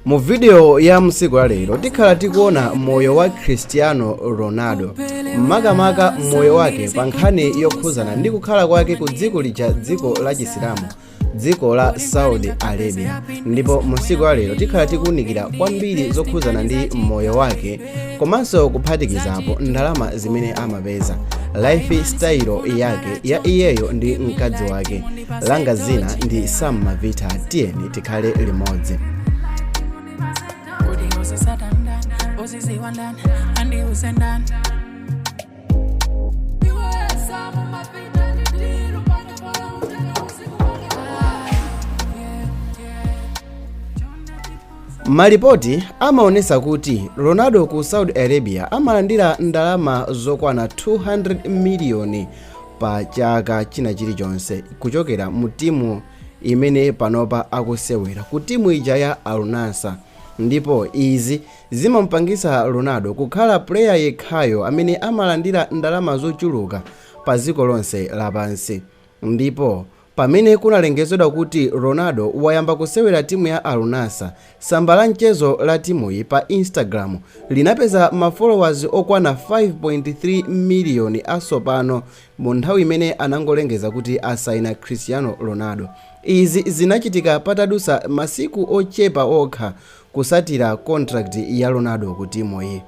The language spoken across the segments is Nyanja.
Mu video ya msiku wa lero tikhala tikuona moyo wa Cristiano Ronaldo makamaka moyo wake pa nkhani yokhuzana ndi kukhala kwake ku dziko lija dziko la chisilamu dziko la Saudi Arabia ndipo mu msiku wa lero tikhala tikuunikira kwambiri zokhuzana ndi moyo wake komanso kuphatikizapo ndalama zimene amapeza life style yake ya iyeyo ndi mkazi wake langa zina ndi sam mavita tiyeni tikhale limodzi malipoti amaonesa kuti ronaldo ku saudi arabia amalandira ndalama zokwana 200 miliyoni pa chaka china chilichonse kuchokera mu timu imene panopa akusewera ku timu ija ya Al Nassr ndipo izi Zimamupangisa Ronaldo kukhala player yekhayo amene amalandira ndalama zochuluka pa dziko lonse lapansi. Ndipo Pamene kunalengezedwa kuti Ronaldo wayamba kusewera timu ya Al Nassr, tsamba la mchezo la timuyi pa Instagram linapeza ma followers okwana 5.3 miliyoni asopano mu nthawi imene anangolengeza kuti asaina Cristiano Ronaldo. Izi zinachitika patadusa masiku ochepa okha kusatira contract ya Ronaldo ku timuyi.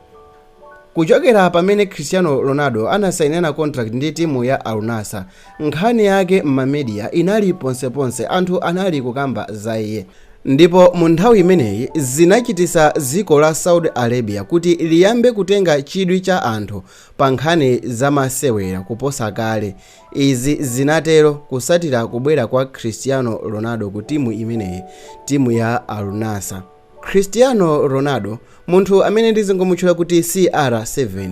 Kuchokera pamene Cristiano Ronaldo anasainana contract ndi timu ya Al Nassr, nkhani yake m'ma media inali ponseponse anthu anali kukamba za iye. Ndipo mu nthawi imeneyi zinachitisa dziko la Saudi Arabia kuti liyambe kutenga chidwi cha anthu pa nkhani za masewera kuposa kale Izi zinatero kusatira kubwera kwa Cristiano Ronaldo ku timu imeneyi, timu ya Al Nassr. Cristiano Ronaldo, munthu amene ndizingomutchula kuti CR7,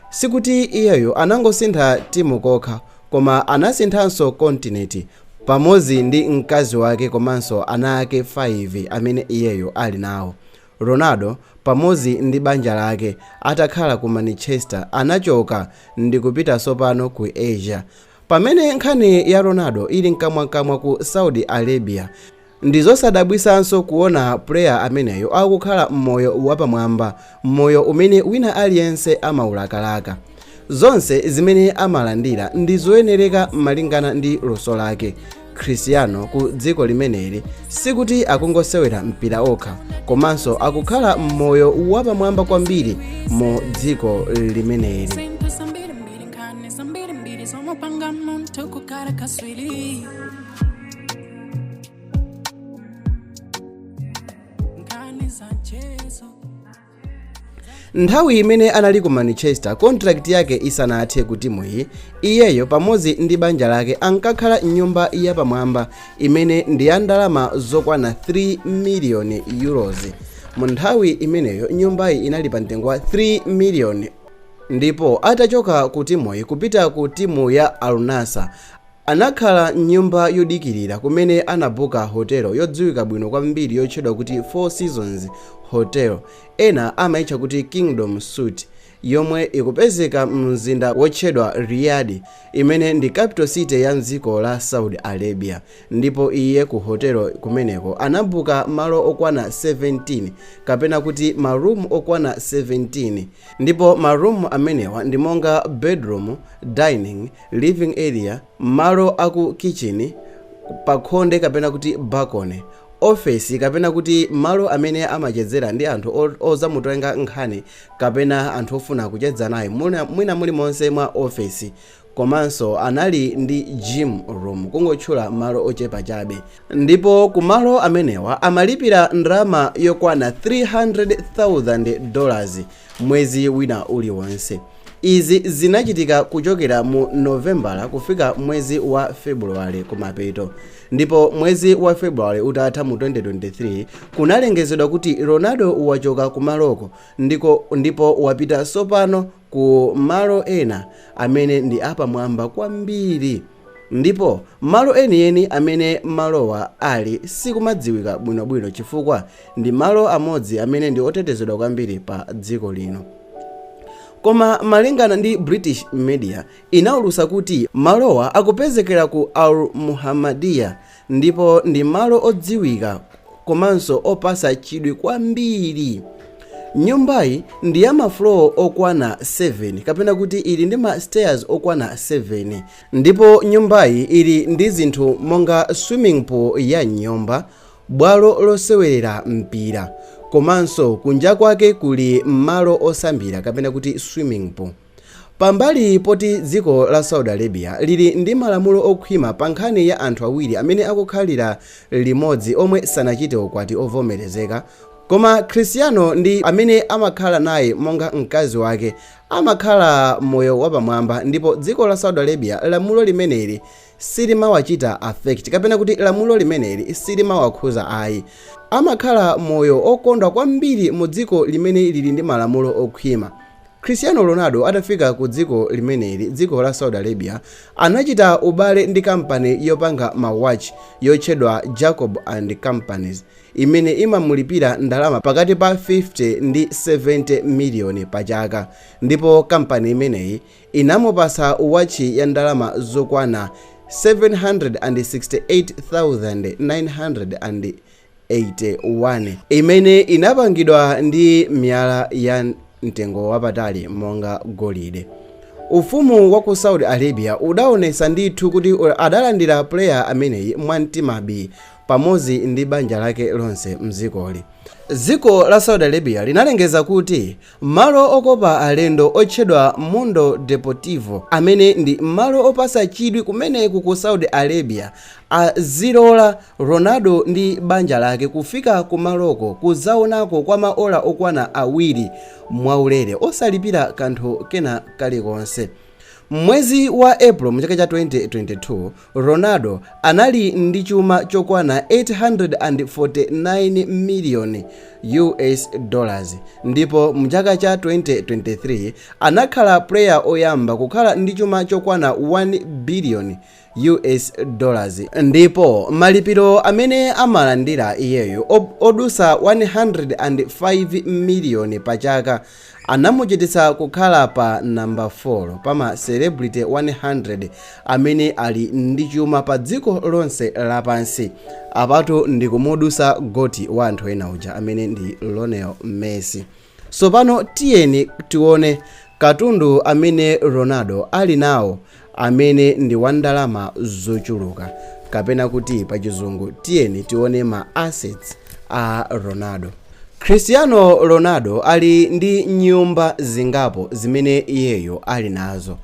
sikuti iyeyo anangosintha timu kokha, koma anasinthanso kontinenti pamodzi ndi mkazi wake komanso ana ake 5 amene iyeyo ali nawo. Ronaldo pamodzi ndi banja lake atakhala ku Manchester anachoka ndikupita sopano ku Asia. Pamene nkhani ya Ronaldo ili mkamwamkamwa ku Saudi Arabia, ndizosadabwisanso kuona player ameneyo akukhala moyo wapamwamba, moyo umene wina aliyense amaulakalaka. Zonse zimene amalandira ndi zoyenereka malingana ndi luso lake. Christiano ku dziko limeneli sikuti akungosewera mpira okha komanso akukhala moyo wapamwamba kwambiri mu dziko limeneli. Simple zambiri mbiri nkhani zambiri mbiri zomupanga munthu kukhala kaswiri nkhani za mchezo nthawi imene anali ku Manchester contract yake isanathe ku timuyi iyeyo pamodzi ndi banja lake ankakhala mnyumba yapamwamba imene ndi ya ndalama zokwana 3 miliyoni euros mu nthawi imeneyo nyumbayi inali pa mtengo wa 3 miliyoni ndipo atachoka ku timuyi kupita ku timu ya Al Nassr Anakhala m'nyumba yodikirira kumene anabuka hotelo yodziwika bwino kwambiri yotchedwa kuti Four Seasons Hotel, ena amaitcha kuti Kingdom Suite, yomwe ikupezeka mumzinda wotchedwa Riyadh, imene ndi capital city ya m'dziko la Saudi Arabia, ndipo iye ku hotelo kumeneko anabuka malo okwana 17, kapena kuti ma room okwana 17, ndipo ma room amenewa ndi monga bedroom, dining, living area, malo a ku kitchini, pakhonde kapena kuti balcony, ofesi kapena kuti malo amene amachedzera ndi anthu ozamutenga nkhani kapena anthu ofuna kuchedza naye mwina muli monse mwa ofesi komanso anali ndi gym room kungotchula malo ochepa chabe ndipo ku malo amenewa amalipira ndalama yokwana 300,000 dollars mwezi wina uliwonse. Izi zinachitika kuchokera mu Novembala kufika mwezi wa Febuluwale kumapeto. Ndipo mwezi wa Febuluwale utatha mu 2023, kunalengezedwa kuti Ronaldo wachoka kumaloko ndipo wapita sopano ku malo ena amene ndi apamwamba kwambiri. Ndipo malo enieni amene malowa ali sikumadziwika bwinobwino chifukwa ndi malo amodzi amene ndi otetezedwa kwambiri pa dziko lino. Koma malingana ndi British media inaulusa kuti malowa akupezekera ku Al Muhammadiyah Ndipo ndi malo odziwika komanso opasa chidwi kwambiri. Nyumbayi ndi ya ma floor okwana 7 kapena kuti ili ndi ma stairs okwana 7. Ndipo nyumbayi ili ndi zinthu monga swimming pool ya m'nyumba, bwalo losewerera mpira komanso kunja kwake kuli malo osambira kapena kuti swimming pool. Pambali poti dziko la Saudi Arabia lili ndi malamulo okhwima pa nkhani ya anthu awiri amene akukhalira limodzi omwe sanachite ukwati ovomerezeka, koma Cristiano ndi amene amakhala naye monga mkazi wake amakhala moyo wapamwamba ndipo dziko la Saudi Arabia lamulo limeneli silimawachita affect kapena kuti lamulo limeneli silimawakhuza ayi. Amakhala moyo okondwa kwambiri mu dziko limene lili ndi malamulo okhwima. Cristiano Ronaldo atafika ku dziko limeneli, dziko la Saudi Arabia, anachita ubale ndi kampani yopanga ma watch yotchedwa Jacob and Companies imene imamulipira ndalama pakati pa 50 ndi 70 miliyoni pa chaka ndipo kampani imeneyi inamupasa wotchi ya ndalama zokwana 768,900. 81 imene inapangidwa ndi miyala ya mtengo wapatali monga golide. Ufumu wa ku Saudi Arabia udaonesa ndithu kuti adalandira player ameneyi mwa mtima bii pamodzi ndi banja lake lonse m'dzikoli. Dziko la Saudi Arabia linalengeza kuti Malo okopa alendo otchedwa Mundo Deportivo, amene ndi malo opasa chidwi kumeneku ku Saudi Arabia, azilola Ronaldo ndi banja lake kufika kumaloko kuzaonako kwa maola okwana awiri mwaulere, osalipira kanthu kena kalikonse. M'mwezi wa April m'chaka cha 2022, Ronaldo anali ndi chuma chokwana 849 miliyoni US dollars ndipo mu chaka cha 2023 anakhala player oyamba kukhala ndi chuma chokwana 1 biliyoni US dollars ndipo malipiro amene amalandira iyeyo odusa 105 miliyoni pa chaka anamuchititsa kukhala pa nambala 4 pa ma celebrity 100 amene ali ndi chuma pa dziko lonse lapansi. Apatu ndikumudusa GOAT wa anthu ena uja amene ndi Lionel Messi. Tsopano tiyeni tione katundu amene Ronaldo ali nawo amene ndi wa ndalama zochuluka kapena kuti pa chizungu tiyeni tione ma assets a Ronaldo. Cristiano Ronaldo ali ndi nyumba zingapo zimene iyeyo ali nazo.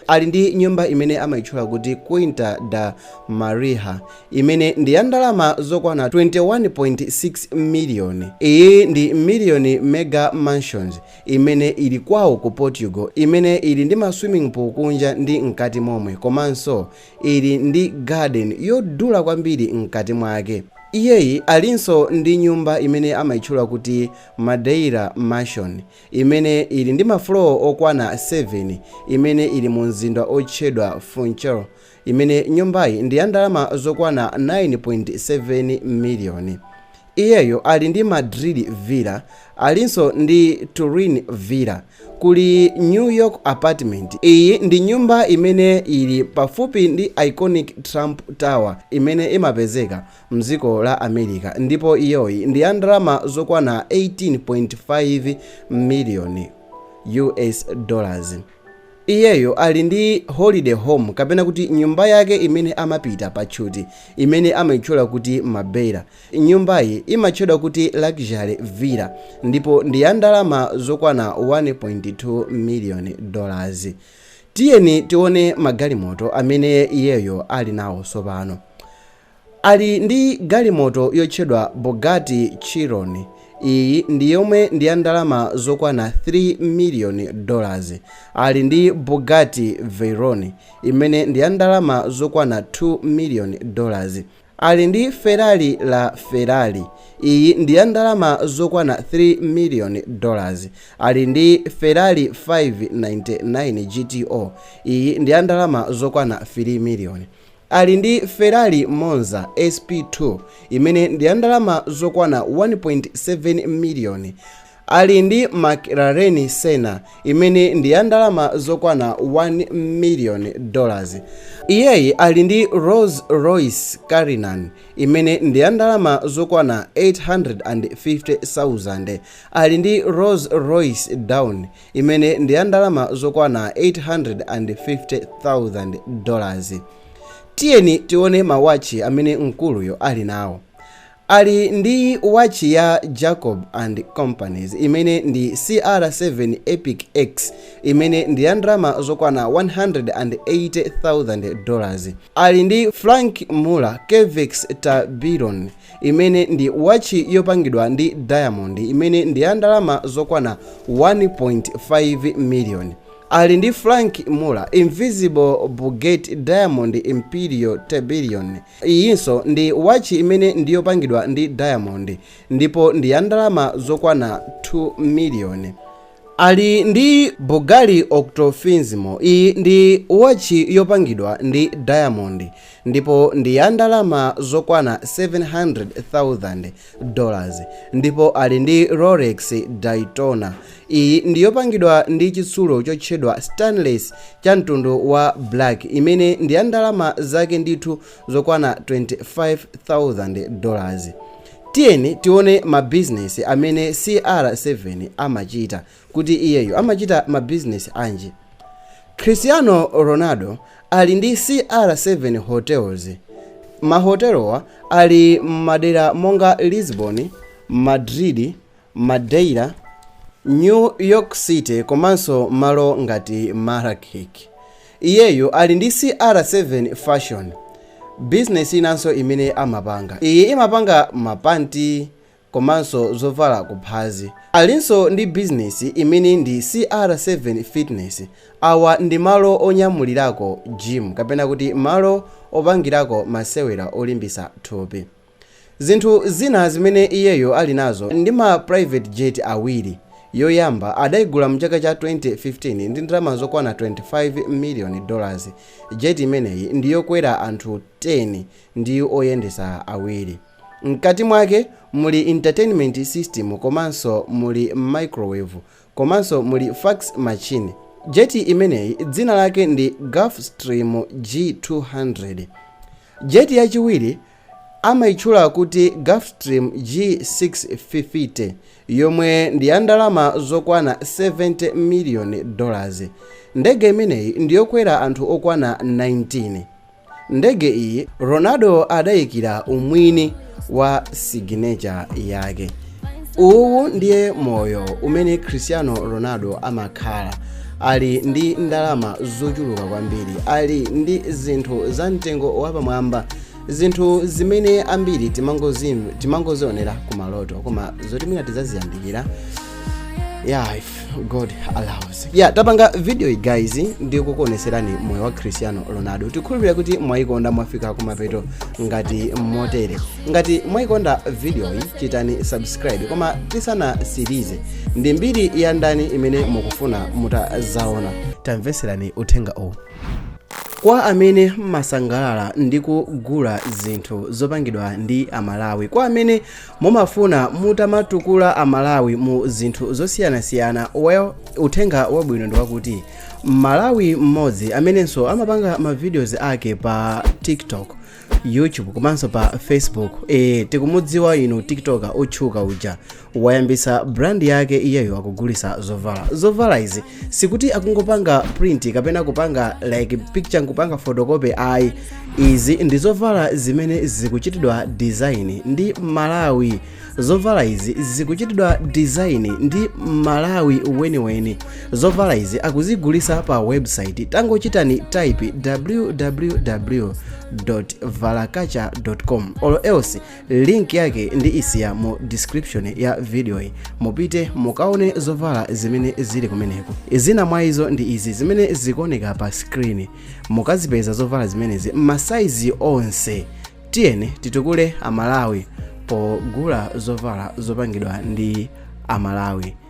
Ali ndi nyumba imene amaitchula kuti Quinta da Marinha imene ndi ya ndalama zokwana 21.6 miliyoni. Iyi ndi Million Mega Mansions imene ili kwawo ku Portugal, imene ili ndi ma swimming pool kunja ndi mkati momwe komanso ili ndi garden yodula kwambiri mkati mwake. Iyeyi alinso ndi nyumba imene amaitchula kuti Madeira Mansion, imene ili ndi ma floor okwana 7, imene ili mu mzinda otchedwa Funchal, imene nyumbayi ndi ya ndalama zokwana 9.7 miliyoni. Iyeyo ali ndi Madrid villa, alinso ndi Turin villa, kuli New York apartment. Iyi ndi nyumba imene ili pafupi ndi iconic Trump Tower imene imapezeka mdziko la America ndipo iyoyi ndi ya ndalama zokwana 18.5 miliyoni US dollars. Iyeyo ali ndi holiday home kapena kuti nyumba yake imene amapita patchuti imene amaitchula kuti Marbella. Nyumbayi imatchedwa kuti Luxury Villa ndipo ndi ya ndalama zokwana 1.2 miliyoni dollars. Tiyeni tione magalimoto amene iyeyo ali nawo tsopano. Ali ndi galimoto yotchedwa Bugatti Chiron, iyi ndi yomwe ndi ya ndalama zokwana 3 miliyoni dollars. Ali ndi Bugatti Veyron imene ndi ya ndalama zokwana 2 miliyoni dollars. Ali ndi Ferrari La Ferrari, iyi ndi ya ndalama zokwana 3 miliyoni dollars. Ali ndi Ferrari 599 GTO, iyi ndi ya ndalama zokwana 3 miliyoni. Ali ndi Ferrari Monza SP2 imene ndi ya ndalama zokwana 1.7 miliyoni. Ali ndi McLaren Senna imene ndi ya ndalama zokwana 1 miliyoni dollars. Iyeyi ali ndi Rolls Royce Cullinan imene ndi ya ndalama zokwana 850,000 dollars. Ali ndi Rolls Royce Dawn imene ndi ya ndalama zokwana 850,000 dollars. Tiyeni tione ma watchi amene mkuluyo ali nawo. Ali ndi watchi ya Jacob and Companies imene ndi CR7 Epic X imene ndi ya ndalama zokwana 180,000 dollars. Ali ndi Franck Muller Curvex Tourbillon imene ndi watchi yopangidwa ndi diamondi imene ndi ya ndalama zokwana 1.5 miliyoni. Ali ndi Franck Muller Invisible Baguette Diamond Imperial Tourbillon. Iyinso ndi watchi imene ndi yopangidwa ndi diamondi ndipo ndi ya ndalama zokwana 2 miliyoni. Ali ndi Bulgari Octo Finissimo. Iyi ndi watchi yopangidwa ndi diamond ndipo ndi ya ndalama zokwana 700,000 dollars ndipo ali ndi Rolex Daytona. Iyi ndi yopangidwa ndi chitsulo chotchedwa stainless cha mtundu wa black imene ndi ya ndalama zake ndithu zokwana 25,000 dollars. Tiyeni tione ma business amene CR7 amachita kuti iyeyo amachita ma business anji. Cristiano Ronaldo ali ndi CR7 Hotels, ma hotelowa ali mmadera monga Lisbon, Madrid, Madeira, New York City komanso malo ngati Marrakech. Iyeyo ali ndi CR7 Fashion, business inanso imene amapanga. Iyi imapanga ma panti komanso zovala kuphazi. Alinso ndi business imene ndi CR7 Fitness, awa ndi malo onyamulirako gym kapena kuti malo opangirako masewera olimbisa thupi. Zinthu zina zimene iyeyo ali nazo ndi ma private jet awiri, yoyamba adaigula mchaka cha 2015 ndi ndalama zokwana 25 million dollars, jet imeneyi ndi yokwera anthu 10 ndi oyendesa awiri. Mkati mwake muli entertainment system komanso muli microwave komanso muli fax machine. Jet imeneyi dzina lake ndi Gulfstream G200. Jet yachiwiri Amaitchula kuti Gulfstream G650, yomwe ndi ya ndalama zokwana 70 miliyoni dolazi. Ndege imeneyi ndi yokwera anthu okwana 19. Ndege iyi Ronaldo adaikira umwini wa signature yake. uwu ndiye moyo umene cristiano ronaldo amakhala ali ndi ndalama zochuluka kwambiri ali ndi zinthu za mtengo wapamwamba zinthu zimene ambiri timangozionera ku maloto koma zoti mwina tizaziyandikira ya god allows yeah tapanga video iyi guys ndi kukuoneserani moyo wa cristiano ronaldo tikhulupirira kuti mwayikonda mwafika kumapeto ngati motere ngati mwayikonda video iyi chitani subscribe koma tisanasirize ndi mbiri ya ndani imene mukufuna mutazaona tamveserani uthenga uwu kwa amene mumasangalala ndi kugula zinthu zopangidwa ndi amalawi kwa amene Mumafuna mutamatukula a Malawi mu zinthu zosiyanasiyana well uthenga wabwino ndi wakuti Mmalawi mmodzi amenenso amapanga ma videos ake pa TikTok, YouTube komanso pa Facebook eh tikumudziwa inu TikToker otchuka uja wayambisa brand yake iyeyo akugulitsa zovala. Zovala izi sikuti akungopanga print kapena kupanga like picture nkupanga photocopy ayi izi ndi zovala zimene zikuchitidwa design ndi Mmalawi zovala izi zikuchitidwa design ndi Mmalawi weniweni zovala izi akuzigulisa pa website tangochitani type www valakacha com or else link yake ndiisiya mu description ya videoyi mupite mukaone zovala zimene zili kumeneko zina mwa izo ndi izi zimene zikuoneka pa screen mukazipeza zovala zimenezi masaizi onse tiyeni titukule amalawi pogula zovala zopangidwa ndi amalawi